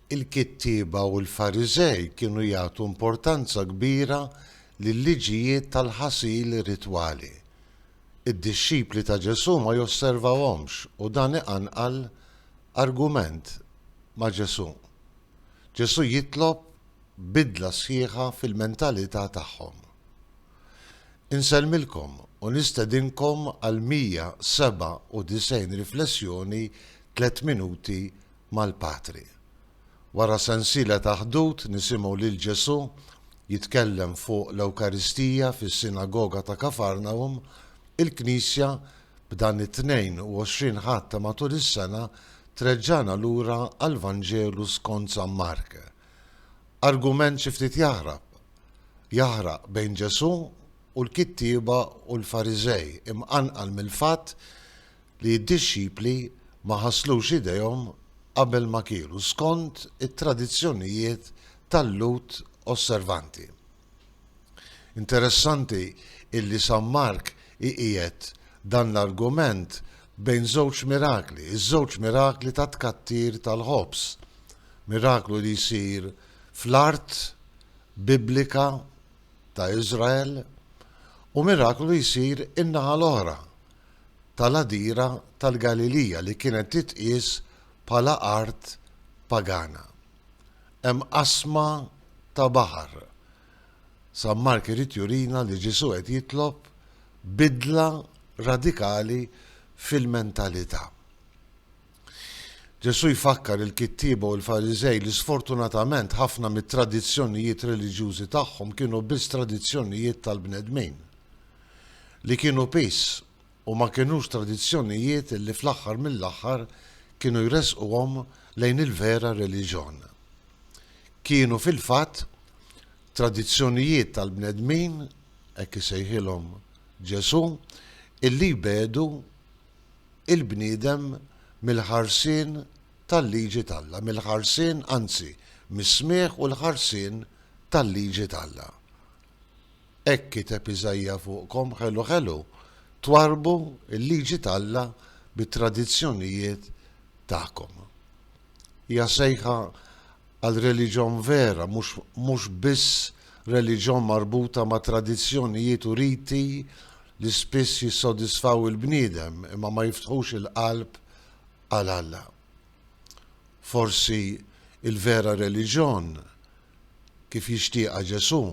Il-kittieba u l-Fariżej kienu jagħtu importanza kbira lil-liġijiet tal-ħasil ritwali. Id-dixxipli ta' Ġesù ma josservawhomx u dan iqanqal argument ma' Ġesù. Ġesù jitlob bidla sħiħa fil-mentalità tagħhom. Insellmilkom u nistedinkom għal 197 riflessjoni Tliet Minuti mal-Patri. Wara sensiela ta' ħdud nisimgħu lil Ġesù jitkellem fuq l-Ewkaristija fis-Sinagoga ta' Kafarnahum, il-Knisja b'dan it-22 Ħadd ta' matul is-sena treġġagħna lura għall-Vanġelu skont San Mark. Argument xi ftit jaħrab, jaħraq bejn Ġesù u l-kittieba u l-Fariżej, imqanqal mill-fatt li d-dixxipli ma ħasslux idejhom qabel ma kielu, skont it-tradizzjonijiet tal-Lhud osservanti. Interessanti illi San Mark iqiegħed dan l-argument bejn żewġ mirakli, iż-żewġ mirakli tat-tkattir tal-ħobż, miraklu li jsir fl-art Biblika ta' Iżrael u miraklu li jsir in-naħa l-oħra tal-għadira tal-Galilija li kienet titqies bħala art pagana. Hemm qasma ta' baħar. San Mark irid jurina li Ġesù qed jitlob bidla radikali fil-mentalità. Ġesù jfakkar il-kittieba u l-Fariżej li sfortunatament ħafna mit-tradizzjonijiet reliġjużi tagħhom kienu biss tradizzjonijiet tal-bnedmin, li kienu piż u ma kinux tradizzjonijiet li fl-aħħar mill-aħħar kienu jressquhom lejn il-vera reliġjon. Kienu fil-fatt tradizzjonijiet tal-bnedmin, hekk isejħilhom Ġesù, illi jbiegħdu l-bniedem mill-ħarsien tal-liġi t'Alla, mill-ħarsien, anzi, mis-smigħ u l-ħarsien tal-liġi t'Alla. Hekk kiteb Iżaija fuqkom, Ħelu, ħelu, twarrbu l-liġi t'Alla bit-tradizzjonijiet tagħkom. Hija sejħa għal reliġjon vera, mhux biss reliġjon marbuta ma' tradizzjonijiet u riti li spiss jissodisfaw il-bniedem imma ma jiftħux il-qalb għal Alla. Forsi l-vera reliġjon kif jixtieqha Ġesù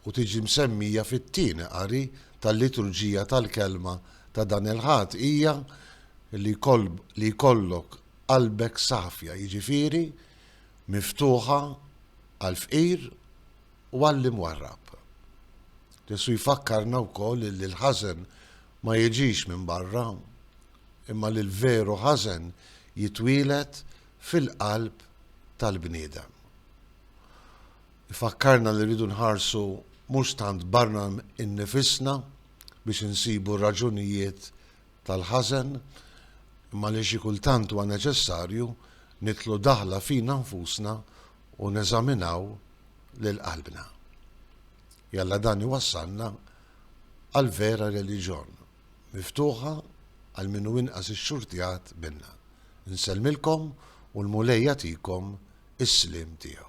u tiġi msemmija fit-tieni qari tal-liturġija tal-Kelma ta' dan il-Ħadd hija li jkollok qalbek safja, jiġifieri miftuħa għall-fqir u għall-imwarrab. Ġesù jfakkarna wkoll li l-ħażen ma jiġix minn barra. imma li l-veru ħażen jitwieled fil-qalb tal-bniedem. Ifakkarna li rridu nħarsu mhux tant barra innifisna biex insibu r-raġunijiet tal-ħażen, imma li xi kultant huwa neċessarju nidħlu daħla fina nfusna u neżaminaw lil qalbna. Jalla dan iwassalna għall-vera reliġjon. Miftuħa għal min hu inqas ixxurtjat minna. Insellmilkom u l-Mulej jagħtikom is-sliem tiegħu.